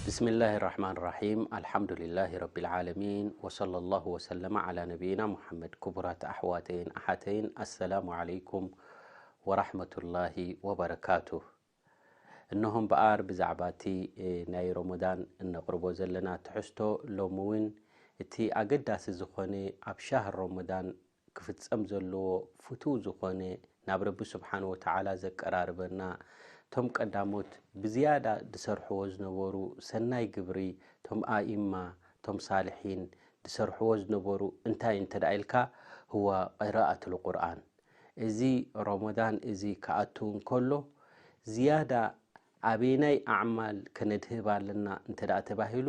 ብስሚላሂ ራሕማን ራሒም ኣልሓምዱሊላሂ ረቢል ዓለሚን ወሰለላሁ ወሰለመ ዓላ ነቢይና ሙሓመድ ክቡራት ኣሕዋተይን ኣሓተይን ኣሰላሙ ዓለይኩም ወራሕመቱላሂ ወበረካቱህ እነሆ እምበኣር ብዛዕባ እቲ ናይ ሮሞዳን እነቕርቦ ዘለና ትሕዝቶ ሎሚ እውን እቲ ኣገዳሲ ዝኾነ ኣብ ሻህር ሮሞዳን ክፍጸም ዘለዎ ፍቱው ዝኾነ ናብ ረቢ ስብሓን ወተዓላ ዘቀራርበና እቶም ቀዳሞት ብዝያዳ ዝሰርሕዎ ዝነበሩ ሰናይ ግብሪ እቶም ኣኢማ እቶም ሳልሒን ዝሰርሕዎ ዝነበሩ እንታይ እንተድኣ ኢልካ ሁወ ቂራኣቱል ቁርኣን እዚ ሮሞዳን እዚ ክኣቱ እንከሎ ዝያዳ ኣበየናይ ኣዕማል ከነድህብ ኣለና እንተድኣ ተባሂሉ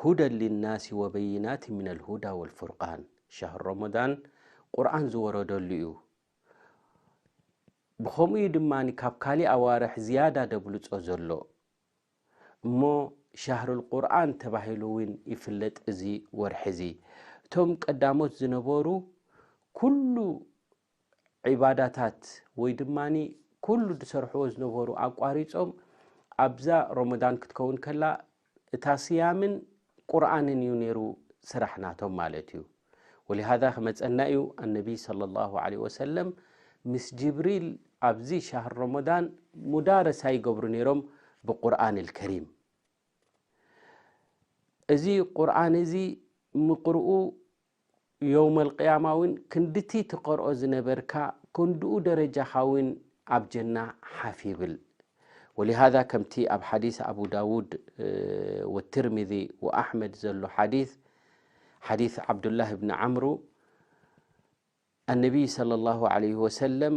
ሁደን ሊናሲ ወበይናት ሚነል ሁዳ ወልፉርቃን ሻህር ሮሞዳን ቁርኣን ዝወረደሉ እዩ ብኸምኡ እዩ ድማ ካብ ካሊእ ኣዋርሕ ዝያዳ ደብልፆ ዘሎ እሞ ሻህር ልቁርኣን ተባሂሉ እውን ይፍለጥ እዚ ወርሒ እዚ እቶም ቀዳሞት ዝነበሩ ኩሉ ዒባዳታት ወይ ድማ ኩሉ ዝሰርሕዎ ዝነበሩ ኣቋሪፆም ኣብዛ ሮሞዳን ክትከውን ከላ እታ ስያምን ቁርኣንን እዩ ነይሩ ስራሕ ናቶም ማለት እዩ ወሊሃዛ ክመፀና እዩ ኣነቢይ ስለ ላሁ ለ ወሰለም ምስ ጅብሪል ኣብዚ ሻሃር ሮሞዳን ሙዳረሳ ይገብሩ ነይሮም ብቁርን ልከሪም እዚ ቁርን እዚ ምቅርኡ የውመል ቂያማ ውን ክንድቲ ትቀርኦ ዝነበርካ ክንድኡ ደረጃኻ ውን ኣብ ጀና ሓፍ ይብል ወሊሃዛ ከምቲ ኣብ ሓዲስ ኣቡ ዳውድ ወትርሚዚ ወኣሕመድ ዘሎ ሓዲስ ሓዲስ ዓብዱላህ ብኒ ዓምሩ ኣነቢይ ሰለ ላሁ ዓለይህ ወሰለም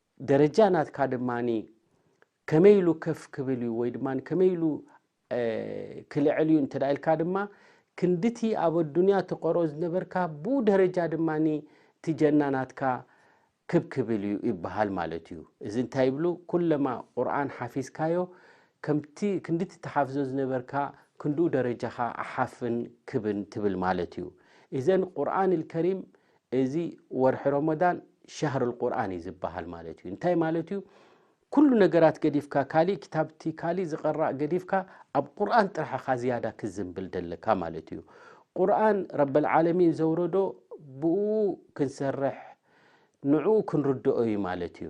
ደረጃ ናትካ ድማ ከመይ ኢሉ ከፍ ክብል እዩ ወይ ድማ ከመይ ኢሉ ክልዕል እዩ እንተደ ኢልካ ድማ ክንዲቲ ኣብ ኣዱንያ ትቀርኦ ዝነበርካ ብኡ ደረጃ ድማ እቲ ጀናናትካ ክብ ክብል እዩ ይበሃል ማለት እዩ እዚ እንታይ ይብሉ ኩለማ ቁርን ሓፊዝካዮ ከምቲ ክንዲቲ ተሓፍዞ ዝነበርካ ክንድኡ ደረጃኻ ኣሓፍን ክብን ትብል ማለት እዩ እዘን ቁርን ልከሪም እዚ ወርሒ ሮሞዳን ሻህር ልቁርን እዩ ዝበሃል ማለት እዩ እንታይ ማለት እዩ ኩሉ ነገራት ገዲፍካ ካሊእ ክታብቲ ካሊእ ዝቐራእ ገዲፍካ ኣብ ቁርን ጥራሕኻ ዝያዳ ክዝንብል ደለካ ማለት እዩ ቁርን ረበልዓለሚን ዘውረዶ ብኡ ክንሰርሕ ንዕኡ ክንርድኦ እዩ ማለት እዩ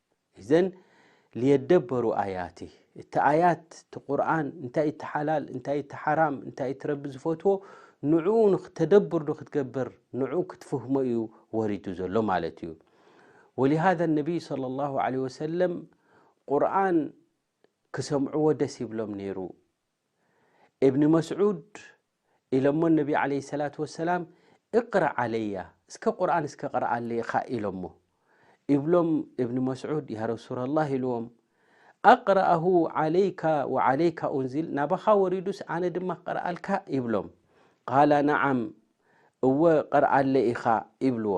እዘን ልየደበሩ ኣያቲ እቲ ኣያት እቲ ቁርን እንታይ እቲ ሓላል እንታይ እቲ ሓራም እንታይ እቲ ረቢ ዝፈትዎ ንኡ ንክተደብር ዶ ክትገብር ንኡ ክትፍህሞ እዩ ወሪዱ ዘሎ ማለት እዩ ወሊሃذ ነብይ صለ ላه ለ ወሰለም ቁርን ክሰምዕዎ ደስ ይብሎም ነይሩ እብኒ መስዑድ ኢሎሞ ነቢ ዓለይሂ ሰላቱ ወሰላም እቅረእ ዓለያ እስከ ቁርኣን እስከ ቅረኣለይኻ ኢሎሞ ይብሎም እብኒ መስዑድ ያ ረሱለላህ ኢልዎም ኣቅረኣሁ ዓለይካ ወዓለይካ ኡንዚል ናባኻ ወሪዱስ ኣነ ድማ ክቅርኣልካ ይብሎም ቃላ ነዓም እወ ቅርኣለይ ኢኻ ይብልዎ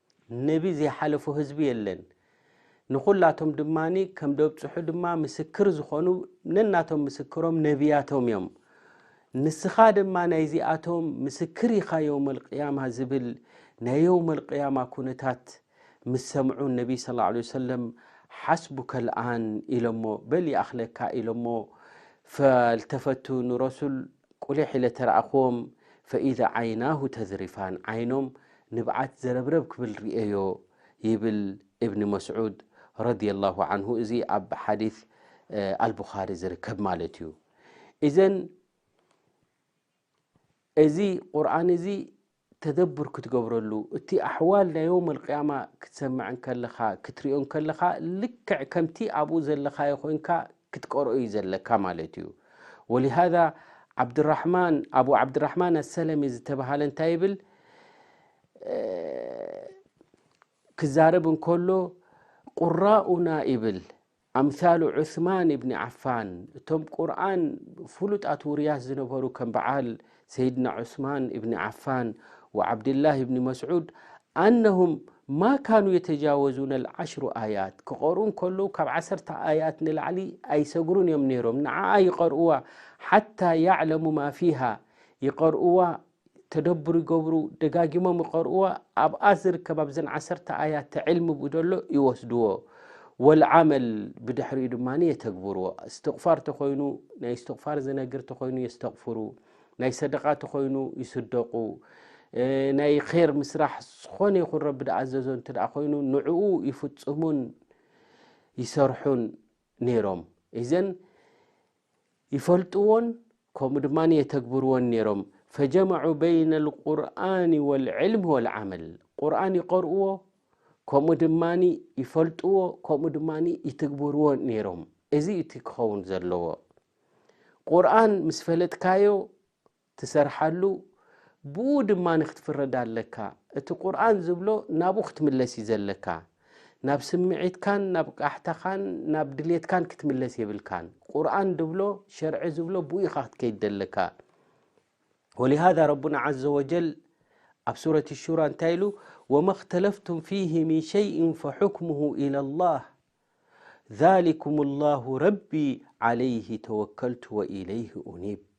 ነቢ ዘይሓለፎ ህዝቢ የለን። ንኹላቶም ድማ ከም ደብጽሑ ድማ ምስክር ዝኾኑ ነናቶም ምስክሮም ነብያቶም እዮም። ንስኻ ድማ ናይዚኣቶም ምስክር ኢኻ የውመልቅያማ ዝብል ናይ የውመልቅያማ ኩነታት ምስ ሰምዑ ነቢ ስ ላ ሰለም ሓስቡከ ልኣን ኢሎሞ በል ይኣኽለካ ኢሎሞ ፈልተፈቱ ንረሱል ቁሊሕ ኢለ ተረኣኹዎም ፈኢዛ ዓይናሁ ተዝሪፋን ዓይኖም ንብዓት ዘረብረብ ክብል ርእየዮ ይብል እብኒ መስዑድ ረዲየላሁ ዓንሁ እዚ ኣብ ሓዲት ኣልቡኻሪ ዝርከብ ማለት እዩ እዘን እዚ ቁርን እዚ ተደብር ክትገብረሉ እቲ ኣሕዋል ናይ ዮም ኣልቅያማ ክትሰምዐ ከለኻ ክትሪኦ ከለኻ ልክዕ ከምቲ ኣብኡ ዘለኻዮ ኮንካ ክትቀርኦ እዩ ዘለካ ማለት እዩ ወሊሃዛ ዓብድራሕማን ኣቡ ዓብድራሕማን ኣሰለሚ ዝተባሃለ እንታይ ይብል ክዛረብ እንከሎ ቁራኡና ይብል ኣምሳሉ ዑስማን እብኒ ዓፋን እቶም ቁርን ፍሉጣት ውርያስ ዝነበሩ ከም በዓል ሰይድና ዑስማን እብኒ ዓፋን ወዓብድላህ እብኒ መስዑድ ኣነሁም ማ ካኑ የተጃወዙነ ልዓሽሩ ኣያት ክቐርኡ እንከለዉ ካብ ዓሰርተ ኣያት ንላዕሊ ኣይሰግሩን እዮም ነይሮም ንዓኣ ይቐርኡዋ ሓታ ያዕለሙ ማ ፊሃ ይቐርኡዋ ተደብሩ ይገብሩ ደጋጊሞም ይቀርኡዋ ኣብኣ ዝርከብ ኣብዘን ዓሰርተ ኣያት ዕልሚ ብደሎ ይወስድዎ ወልዓመል ብድሕሪኡ ድማ የተግብርዎ እስትቕፋር ተኾይኑ ናይ እስትቕፋር ዝነግር ተኾይኑ የስተቕፍሩ ናይ ሰደቃ ተኾይኑ ይስደቑ ናይ ር ምስራሕ ዝኾነ ይኹን ረቢ ዝኣዘዞ እንተ ኮይኑ ንዕኡ ይፍፅሙን ይሰርሑን ነይሮም እዘን ይፈልጥዎን ከምኡ ድማ የተግብርዎን ነይሮም ፈጀመዑ በይነ ልቁርን ወልዕልም ወልዓመል ቁርን ይቀርእዎ ከምኡ ድማ ይፈልጥዎ ከምኡ ድማ ይትግብርዎ ነይሮም እዚ እቲ ክኸውን ዘለዎ ቁርን ምስ ፈለጥካዮ ትሰርሓሉ ብኡ ድማ ክትፍረድ ኣለካ እቲ ቁርኣን ዝብሎ ናብኡ ክትምለስ እዩ ዘለካ ናብ ስምዒትካን ናብ ቃሕታኻን ናብ ድሌትካን ክትምለስ የብልካን ቁርኣን ድብሎ ሸርዒ ዝብሎ ብኡ ኢኻ ክትከይድ ዘለካ ወሊሃዛ ረቡና ዓዘ ወጀል ኣብ ሱረት ሹራ እንታይ ኢሉ ወማ እክተለፍቱም ፊህ ምን ሸይእን ፈሑክሙሁ ኢላ ላህ ዛሊኩም ላሁ ረቢ ዓለይህ ተወከልቱ ወኢለይህ ኡኒብ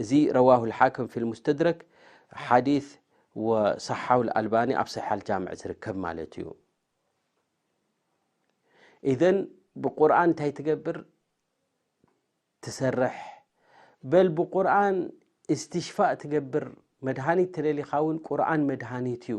እዚ ረዋሁ ልሓክም ፊ ልሙስተድረክ ሓዲስ ወሰሓሓሁ ልኣልባኒ ኣብ ሰሒሕ ኣልጃምዕ ዝርከብ ማለት እዩ ኢዘን ብቁርን እንታይ ትገብር ትሰርሕ በል ብቁርን እስትሽፋእ ትገብር መድሃኒት ተደሊኻ እውን ቁርን መድሃኒት እዩ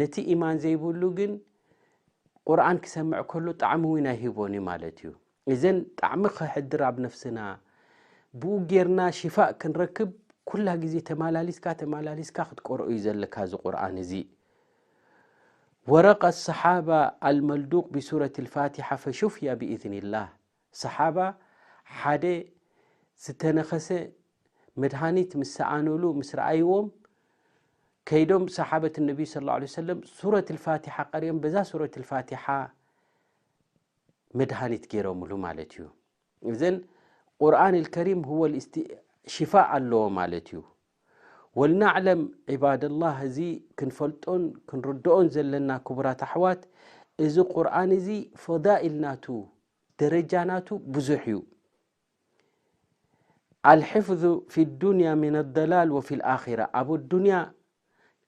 ነቲ ኢማን ዘይብሉ ግን ቁርን ክሰምዕ ከሎ ጣዕሚ እውን ኣይህቦን እዩ ማለት እዩ እዘን ጣዕሚ ክሕድር ኣብ ነፍስና ብኡ ጌርና ሽፋእ ክንረክብ ኩላ ግዜ ተመላሊስካ ተመላሊስካ ክትቀር እዩ ዘለካ እዚ ቁርን እዚ ወረቀ ሰሓባ ኣልመልዱቅ ብሱረት ልፋትሓ ፈሹፍያ ብእዝኒ ላህ ሰሓባ ሓደ ዝተነኸሰ መድሃኒት ምስ ሰኣኑሉ ምስ ረኣይዎም ከይዶም ሰሓበት ነቢዪ ሰለላሁ ዐለይሂ ወሰለም ሱረት ኣልፋቲሓ ቀሪኦም በዛ ሱረት ኣልፋቲሓ መድሃኒት ገይሮምሉ ማለት እዩ እዘን ቁርኣን ኣልከሪም ሽፋእ ኣለዎ ማለት እዩ ወልናዕለም ዒባደላህ እዚ ክንፈልጦን ክንርድኦን ዘለና ክቡራት ኣሕዋት እዚ ቁርን እዚ ፈዳኢል ናቱ ደረጃ ናቱ ብዙሕ እዩ ኣልሕፍዙ ፊ ዱንያ ምን ኣደላል ወፊ ልኣራ ኣብ ኣዱንያ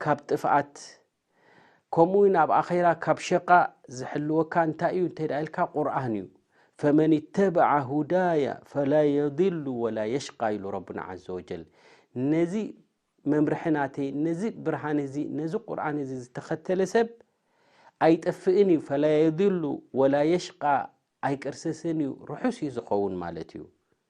ካብ ጥፍኣት ከምኡ ውን ኣብ ኣኼራ ካብ ሸቃእ ዝሕልወካ እንታይ እዩ እንተ ኢልካ ቁርን እዩ ፈመን ተበዓ ሁዳያ ፈላ የድሉ ወላ የሽቃ ኢሉ ረብና ዘ ወጀል ነዚ መምርሒ ናተይ ነዚ ብርሃን እዚ ነዚ ቁርን እዚ ዝተኸተለ ሰብ ኣይጠፍእን እዩ ፈላ የድሉ ወላ የሽቃ ኣይቅርሰስን እዩ ርሑስ እዩ ዝኸውን ማለት እዩ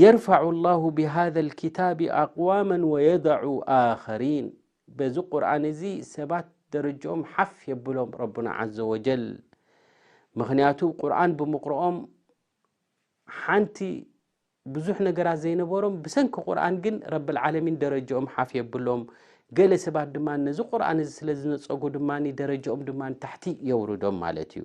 የርፋዑ ላሁ ብሃዘ ልክታብ ኣቅዋመ ወየደዑ ኣኸሪን በዚ ቁርን እዚ ሰባት ደረጅኦም ሓፍ የብሎም ረብና ዘ ወጀል ምክንያቱ ቁርን ብምቕርኦም ሓንቲ ብዙሕ ነገራት ዘይነበሮም ብሰንኪ ቁርን ግን ረብልዓለሚን ደረጅኦም ሓፍ የብሎም ገለ ሰባት ድማ ነዚ ቁርን እዚ ስለ ዝነፀጉ ድማ ደረጅኦም ድማ ታሕቲ የውርዶም ማለት እዩ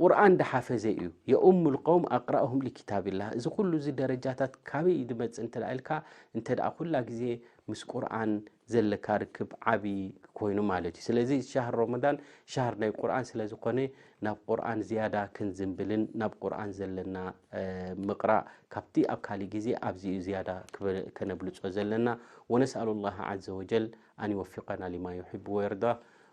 ቁርኣን ድሓፈዘ እዩ የኡሙል ቀውም ኣቅራኡሁም ሊኪታቢላህ እዚ ኩሉ እዚ ደረጃታት ካበይ እዩ ድመጽእ እንተ ኢልካ እንተ ኩላ ግዜ ምስ ቁርኣን ዘለካ ርክብ ዓቢ ኮይኑ ማለት እዩ ስለዚ ሻሃር ሮመዳን ሻሃር ናይ ቁርኣን ስለ ዝኾነ ናብ ቁርኣን ዝያዳ ክንዝንብልን ናብ ቁርኣን ዘለና ምቅራእ ካብቲ ኣብ ካሊእ ግዜ ኣብዚ እዩ ዝያዳ ከነብልጾ ዘለና ወነስኣሉ ላህ ዓዘ ወጀል ኣን ይወፊቀና ሊማ ዩሕቡ ወየርዳ